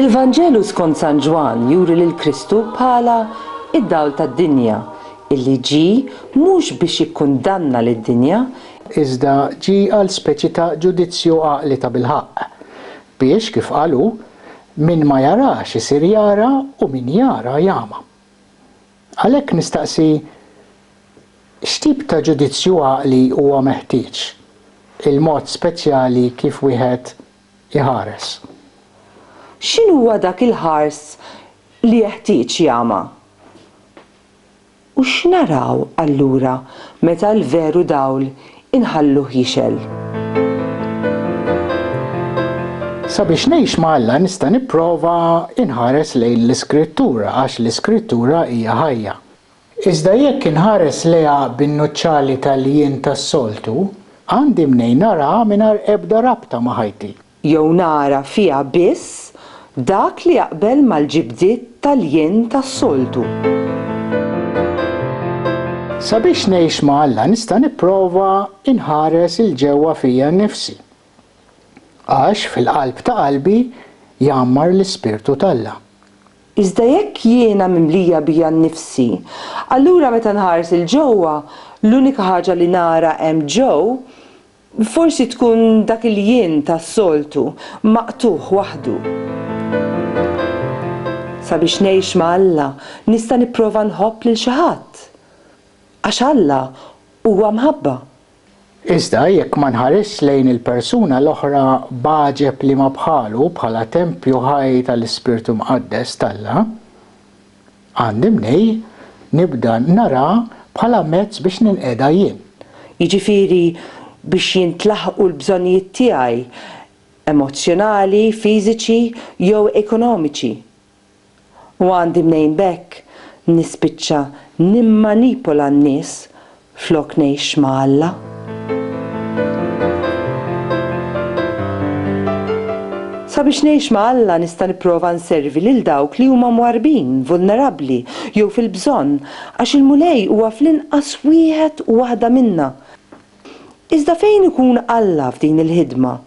Il-Vanġelu skont San Ġwann juri lil Kristu bħala d-dawl tad-dinja, illi ġie mhux biex jikkundanna lid-dinja, iżda ġie għal speċi ta' ġudizzju għaqli tabilħaqq, biex, kif qal hu, min ma jarax isir jara u min jara jagħma. Għalhekk nistaqsi, x'tip ta' ġudizzju għaqli huwa meħtieġ, il-mod speċjali kif wieħed iħares. X'inhuwa dak il-ħars li jeħtieġ jama? U x'naraw allura meta l-veru dawl inħalluh jixgħel? Sabiex ngħix ma' Alla nista' nipprova inħares lejn l-Iskrittura għax l-Iskrittura hija ħajja. Iżda jekk inħares lejha bin-nuċċali tal-jien tas-soltu, għandi mnejn naraha mingħajr ebda rabta ma' ħajti. Jew nara fiha biss dak li jaqbel mal-ġibdiet tal-jien tas-soltu. Sabiex ngħix ma' Alla nista' nipprova nħares 'il ġewwa fija nnifsi. Għax fil-qalb ta' qalbi jgħammar l-Ispirtu t'Alla. Iżda jekk jiena mimlija bija nnifsi, allura meta nħares 'il ġewwa, l-unika ħaġa li nara hemm ġo, forsi tkun dak il-jien tas-soltu, maqtugħ waħdu. Sabiex ngħix ma' Alla, nista' nipprova nħobb lil xi ħadd. Għax Alla huwa mħabba, Iżda jekk ma nħarisx lejn il-persuna l-oħra b'għaġeb liema bħalu bħala tempju ħaj tal-Ispirtu Mqaddes t'Alla, għandi mnejn nibda narha bħala mezz biex ninqeda jien. Jiġifieri biex jintlaħqu l-bżonnijiet tiegħi emozzjonali, fiżiċi jew ekonomiċi. u għandi mnejn b'hekk nispiċċa nimmanipola n-nies flok ngħix ma' Alla. Sabiex ngħix ma' Alla nista' nipprova nservi lil dawk li huma mwarrbin, vulnerabbli, jew fil-bżonn, għax il-Mulej huwa fl-inqas wieħed u waħda minna. Iżda fejn ikun Alla f'din il-ħidma?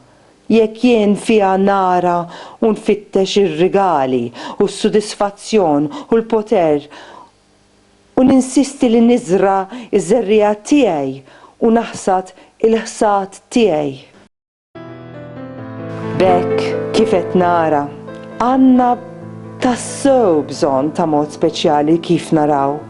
Jekk jien fiha nara u nfittex ir-rigali u s-sudisfazzjon u l-poter u ninsisti li niżra' ż-żerriegħa tiegħi u naħsad il-ħsad tiegħi. B'hekk kif qed nara, għandna tassew bżonn ta' mod speċjali kif naraw.